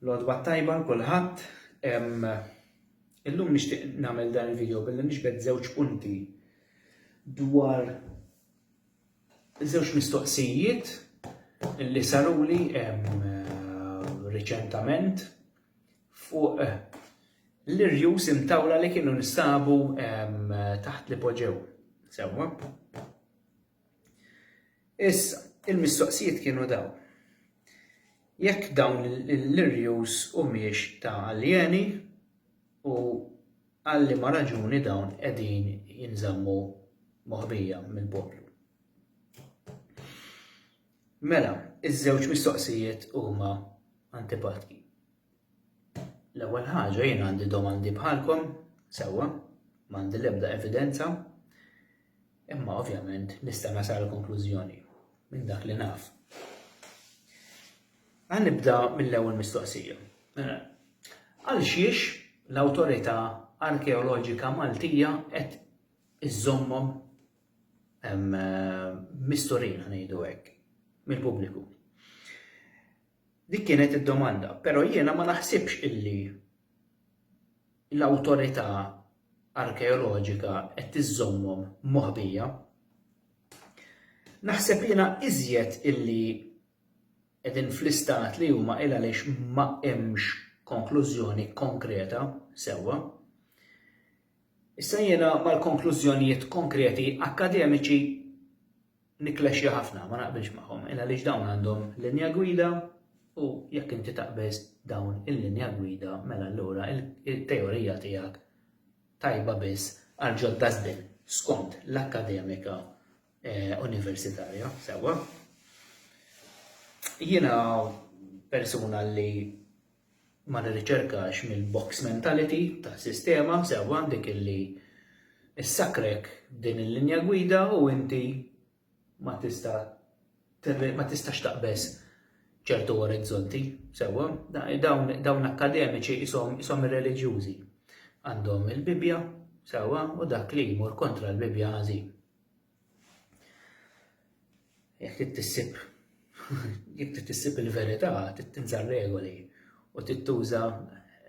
L-għodwa tajba l-kulħadd. Illum nixtieq nagħmel dan il-video billi nixbet żewġ punti dwar żewġ mistoqsijiet li saruli riċentament fuq eh, l-irjus imtawla li kienu nistabu taħt li poġew. Sewwa. Issa, il-mistoqsijiet kienu dawn, Jekk dawn l-irjus humiex ta' aljeni u għal liema raġuni dawn qegħdin jinżammu moħbija mill-poplu? Mela, iż-żewġ mistoqsijiet huma antipatki. L-ewwel ħaġa jien għandi domandi bħalkom, sewwa, m'għandi l-ebda evidenza, imma ovvjament nista' nasal konklużjoni minn dak li naf. Għan nibda mill-ewwel mistoqsija. Mela, għal xiex l-Awtorità Arkeoloġika Maltija qed iżommhom misturin ngħidu hekk mill-pubbliku. Dik kienet id-domanda, però jiena ma naħsibx illi l-Awtorità Arkeoloġika qed tiżżommhom moħbija. Naħseb jiena iżjed illi qegħdin fl-istat li huma il għaliex ma hemmx konklużjoni konkreta sewwa. Issa jiena mal-konklużjonijiet konkreti akkademiċi nikklexxja ħafna, ma naqbilx magħhom, il għaliex dawn għandhom linja gwida u jekk inti taqbeż dawn il-linja gwida mela allura il-teorija tiegħek tajba biss għal ġod dasbin skont l-akkademika eh, universitarja, sewwa. Jiena persuna li ma nirriċerkax mill-box mentality tas-sistema sewwa dik illi ssakkrek din il-linja gwida u inti ma tista' ma tistax taqbeż ċertu orizzonti sewwa dawn dawn akkademiċi qishom qishom irreliġjużi għandhom il-Bibbja sewwa u dak li jmur kontra l-Bibbja ħażin. Jekk trid tissib jekk trid tissib il-verità, trid tinżar regoli u trid tuża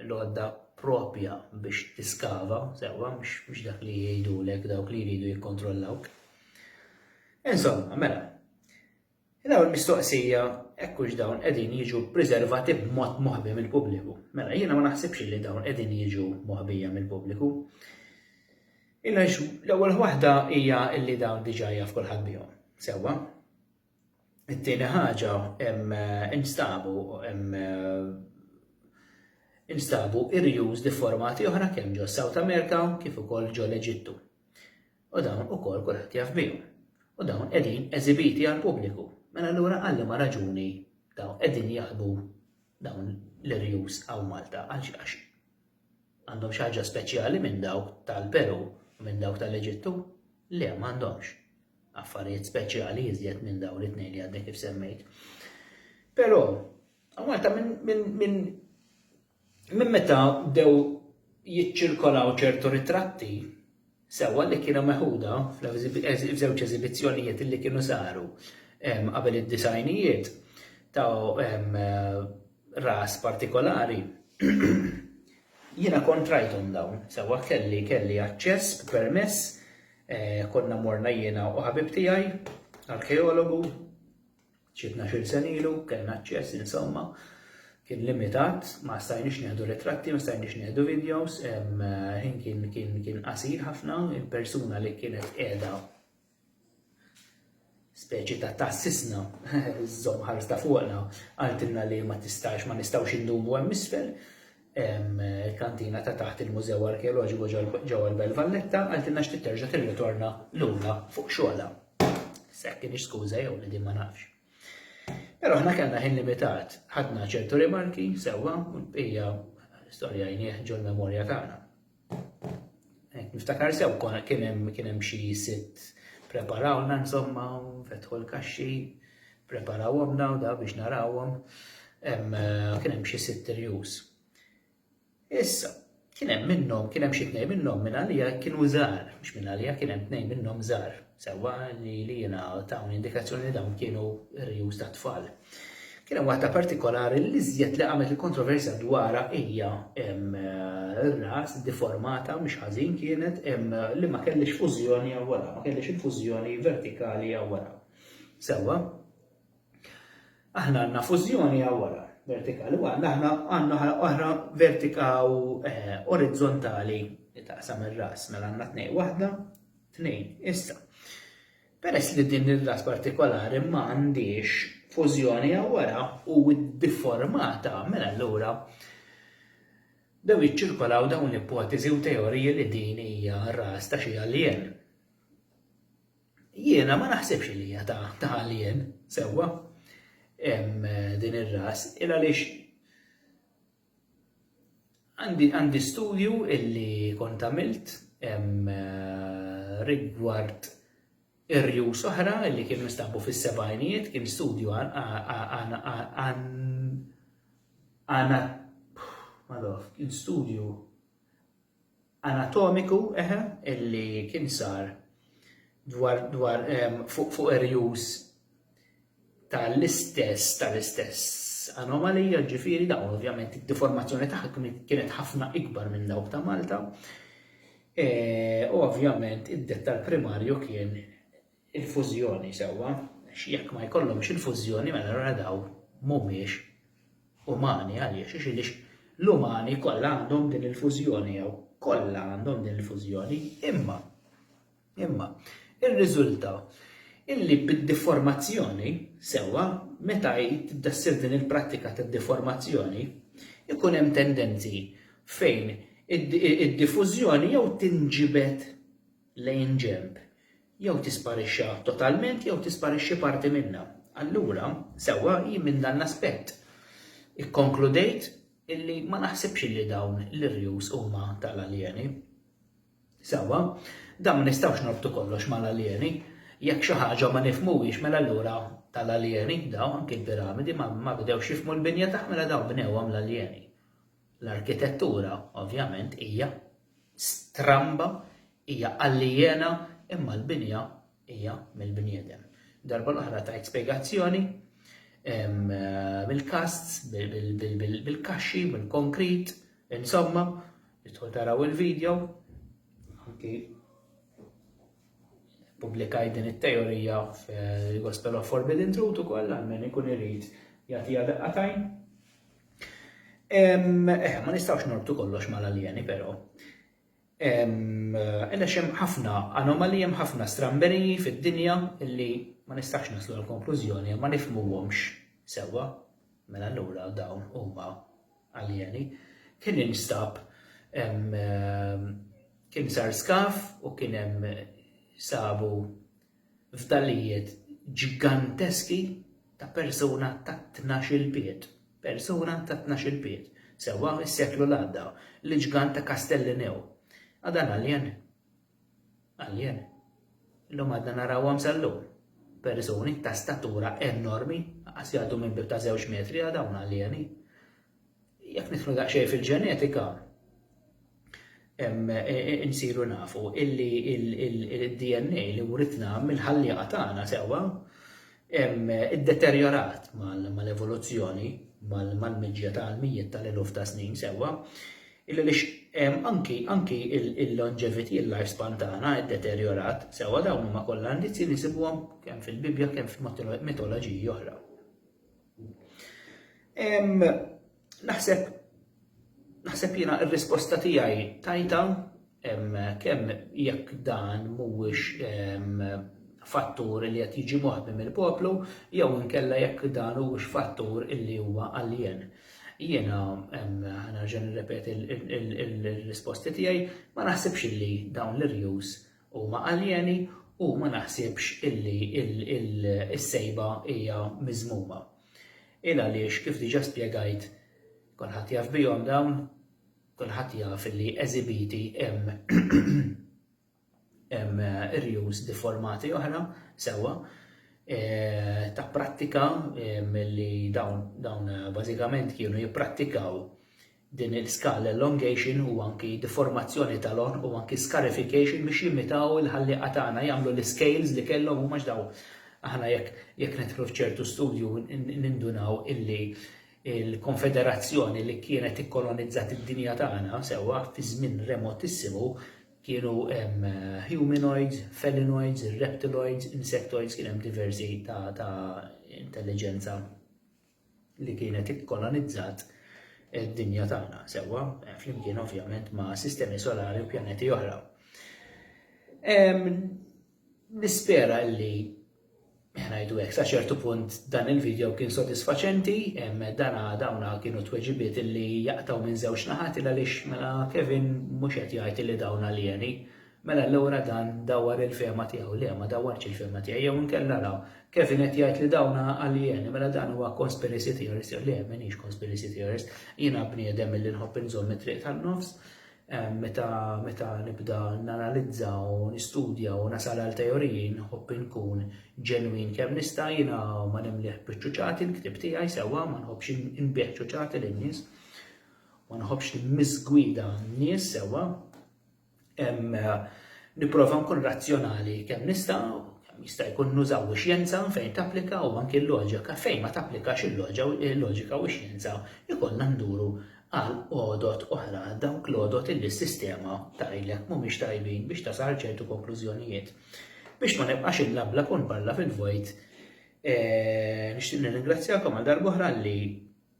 l-għodda propja biex tiskava, sewwa mhux dak li jgħidulek dawk li jridu jikkontrollawk. Insomma, mela, L-ewwel mistoqsija, hekk hux dawn qegħdin jiġu ppriservati b'mod moħbi mill-pubbliku? Mela, jiena ma naħsibx illi dawn qegħdin jiġu moħbija mill-pubbliku. Għaliex l-ewwel waħda hija illi dawn diġà jaf kulħadd bihom. Sewwa. It-tieni ħaġa hemm instabu hemm instabu irjuż li formati oħra kemm ġo South America kif ukoll ġo l-Eġittu. U dawn ukoll kulħadd jaf bihom. U dawn qegħdin eżibiti għall-pubbliku. Mela allura għal liema raġuni dawn qegħdin jaħbu dawn l-irjus hawn Malta għax għax għandhom xi ħaġa speċjali minn dawk tal-Peru u minn dawk tal-Eġittu? Le m'għandhomx affarijiet speċjali iżjed minn dawn it-tnejn li għadni kif semmejt. Però, Malta minn Minn meta bdew jiċċirkolaw ċertu ritratti, sewwa li kienu meħuda f'żewġ eżibizzjonijiet li kienu saru qabel id-disgħinijiet ta' ras partikolari, jiena kont rajthom dawn, sewwa kelli kelli aċċess b'permess, konna morna jiena u ħabib tiegħi, arkeologu, Xi tnax-il sena ilu kellna aċċess insomma kien limitat, ma stajniex nieħdu ritratti, ma stajniex nieħdu videos, ħin kien kien kien qasir ħafna, il-persuna li kienet qiegħda speċi ta' tassisna, żomm ħares ta' fuqna, għaltilna li ma tistax, ma nistgħux indumu hemm isfel, hemm il-kantina ta' taħt il-Mużew Arkeoloġiku ġewwa l-Belt Valletta, qaltilna xtieq terġa' tirritorna lura fuq xogħolha. S'hekk kienx skuża jew li din ma nafx. Però aħna kellna ħin limitat, ħadna ċertu rimarki sewwa u l-bqija storja jnieh ġol-memorja tagħna. Niftakar sew konna kien hemm kien hemm xi sitt preparawna insomma fetħu l-kaxxi, preparawhom daw da biex narawhom. Eh, kien hemm xi sitt irjus. Issa, kien hemm minnhom, kien hemm xi tnejn minnhom minn għalija kienu żgħar, mhux minn għalija kien hemm tnejn minnhom żgħar. Sewwa li lilna tawni indikazzjoni li dawn kienu r-rjus tat-tfal. Kien hemm waħda partikolari li l-iżjed li qamet il-kontroversja dwarha hija r-ras deformata mhix ħażin kienet li ma kellhiex fużjoni hawn wara, ma kellhiex il-fużjoni vertikali hawn wara. Sewwa, Aħna għandna fużjoni għaw wara, vertikali għandna, aħna għandna ħala oħra vertika u eh, orizzontali li taqsam ir-ras, mela għandna tnej waħda, tnejn, issa. Peress li din ir-ras partikolari ma għandix fużjoni għaw wara u difformata mela l-ura Dew jiċċirkolaw dawn l-ipoteżi u teoriji li din hija r-ras ta' xi alien. Jiena ma naħsibx li hija ta' għalien sewwa din ir-ras, il għaliex għandi studju illi kont għamilt rigward ir-rjus oħra li kien mistabu fis-sebajnijiet kien studju għana kien studju anatomiku eħe illi kien sar dwar dwar fuq fuq irjus tal-istess tal-istess anomalija ġifiri dawn ovvjament id-deformazzjoni tagħha kienet ħafna ikbar minn dawk ta' Malta. E, u ovvjament id-dettal primarju kien il-fużjoni sewwa, għax jekk ma jkollhomx il-fużjoni mela allura daw mhumiex umani għaliex għax iliex l-umani kollha għandhom din il-fużjoni jew kollha għandhom din il-fużjoni imma imma irriżulta illi bid-deformazzjoni sewwa meta tibda ssir din il-prattika tad-deformazzjoni ikun hemm tendenzi fejn id-diffużjoni jew tinġibed lejn ġenb, jew tisparixxa totalment jew tisparixxi parti minnha. Allura, sewwa hi minn dan l-aspett. Ikkonkludejt illi ma naħsibx illi dawn l-irjus huma tal-aljeni. Sewwa, dan ma nistgħux norbtu kollox mal-aljeni. Jekk xi ħaġa ma nifhmuhiex mela allura tal-aljeni dawn anki l-piramidi ma bdewx jifhmu l-binja tagħha mela dawn bnewhom l-aljeni. L-arkitettura, ovvjament, hija stramba, hija alijena, imma l-binja hija mill-bniedem. Darba l-oħra tajt spjegazzjoni bil-kasts, bil-kaxxi, bil-konkrit, insomma, jitħu taraw il-video, anki publikaj din it-teorija fil-Gospel of Forbidden Truth ukoll għal min ikun irid jagħtiha daqatajn. Eh, ma nistgħux norbtu kollox mal-aljeni però. Għaliex hemm ħafna anomali, hemm ħafna stramberiji fid-dinja li ma nistax naslu l-konklużjoni ma nifmuhomx sewwa. Mela allura dawn huma aljeni. Kien instab kien sar skaf u kien hemm sabu fdalijiet ġiganteski ta' persuna ta' tnax-il pied, persuna ta' tnax-il pied, sewwa mis-seklu l-għadda, l-iġgant ta' Castellineu. A dan alien? Alien. Illum għadna narawhom sal-lum. Persuni ta' statura enormi, anqas jgħaddu minn bieb ta' żewġ metri, a dawn aljeni. Jekk nidħlu daqsxejn fil-ġenetika, insiru nafu illi il-DNA li writna mill-ħallieqa tagħna sewwa iddeterjorat mal-evoluzzjoni, mal-miġja ta' mijiet tal-eluf ta' snin sewwa, illi lix anki il-longevity, il-lifespan tagħna iddeterjorat sewwa dawn huma kollha indizji li nsibuhom kemm fil-Bibbja kemm f'mitoloġiji oħra. Naħseb naħseb jiena r-risposta tiegħi tajta kemm jekk dan mhuwiex fattur li qed jiġi moħbi mill-poplu jew inkella jekk dan huwiex fattur illi huwa alien. Jiena nerġa' nirrepeti l-risposti tiegħi ma naħsibx illi dawn l-irjus huma aljeni u ma naħsibx illi s-sejba hija miżmuma. Il għaliex, kif diġà spjegajt, kulħadd jaf bihom dawn, kulħadd jaf illi eżibiti hemm hemm rjus difformati oħra sewwa eh, ta' prattika eh, milli dawn dawn bażikament kienu jipprattikaw Din il-skull elongation u anki deformazzjoni tal-għonq u anki scarification biex jimitaw il-ħallieqa tagħna jagħmlu l-iscales li kellhom huma għax dawn aħna jekk jekk nidħlu f'ċertu studju nindunaw illi l-konfederazzjoni li kienet ikkolonizzat id-dinja tagħna sewwa fi żmien remotissimu kienu hemm humanoids, felinoids, reptiloids, insectoids kien hemm diversi ta' ta' intelliġenza. li kienet ikkolonizzat id-dinja tagħna sewwa, eh, flimkien ovvjament ma' sistemi solari u pjaneti oħra. Nispera li ħnajdu hekk sa ċertu punt dan il-video kien sodisfaċenti, dana dawna kienu tweġibiet li jaqtaw minn żewġ naħat il għaliex mela Kevin mhux qed jgħid li dawna alieni, Mela allura dan dawwar il-fehma tiegħu. Le, ma dawwarx il-fehma tiegħi. Jew inkella ara, Kevin qed jgħid li dawn aljeni, mela dan huwa conspiracy theorist jew le, m'iniex conspiracy theorist. Jiena bniedem milli nħobb inżomm it-triq tan-nofs. Meta meta nibda nanalizza u nistudja u nasal għal teoriji nħobb inkun ġenwin kemm nista', jiena ma nimlih biċ-ċuċati l-ktieb tiegħi sewwa, ma nħobbx inbigħ ċuċati lin-nies, ma nħobbx nimmiżgwida n-nies sewwa. Nipprova nkun razzjonali kemm nista' kemm jista' jkun nużaw ix-xjenza fejn tapplika u anki l-loġika fejn ma tapplikax il-loġika u x-xjenza jkollna nduru għal għodod oħra għal dawk l-għodod illi s-sistema tgħidlek mhumiex tajbin biex tasal għal ċertu konklużjonijiet. Biex ma nibqax inlablab u nparla fil-vojt, nixtieq nirringrazzjakom għal darb'oħra li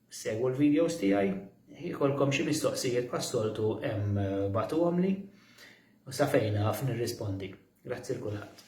Segwu l-videos tiegħi, jkollkom xi mistoqsijiet bħas-soltu hemm bagħtuhomli u sa fejn naf nirrispondi. Grazzi 'l kulħadd.